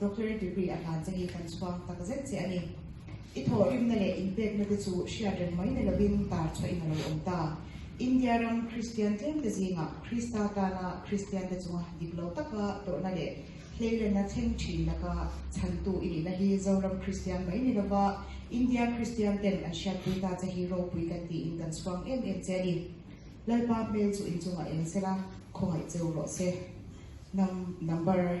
Doctorate degree a hlan cheng hi kan chhuang tak zet che a ni. I thawhrimna leh inpekna te chu hriat reng mai na lovin tar chhuah in a lo awm ta. India ram Kristian tlêmte zingah Krista tana Kristiante chunga dik lo taka tawrhna leh hleilenna thleng ṭhin laka chhantu i nihna hi Zoram Kristian mai ni lova India Kristiante'n an hriatpui ta che hi ropui kan tiin kan chhuang em em che a ni. Lalpa hmel chu inchungah eng sela khawngaih che u rawh se. Nang number.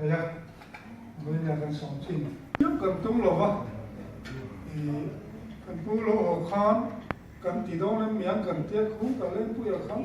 Theia vei nen kan sawm thin deuh kan tum lo va, ih kan pu lo aw khan kan ti dawn em mian kan tia khum ta leng pui a khang.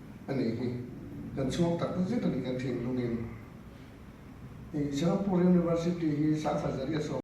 a nih hi kan chhuak tak zet a ni kan thinlungin. Singapore University hi Sangfazariah sawm.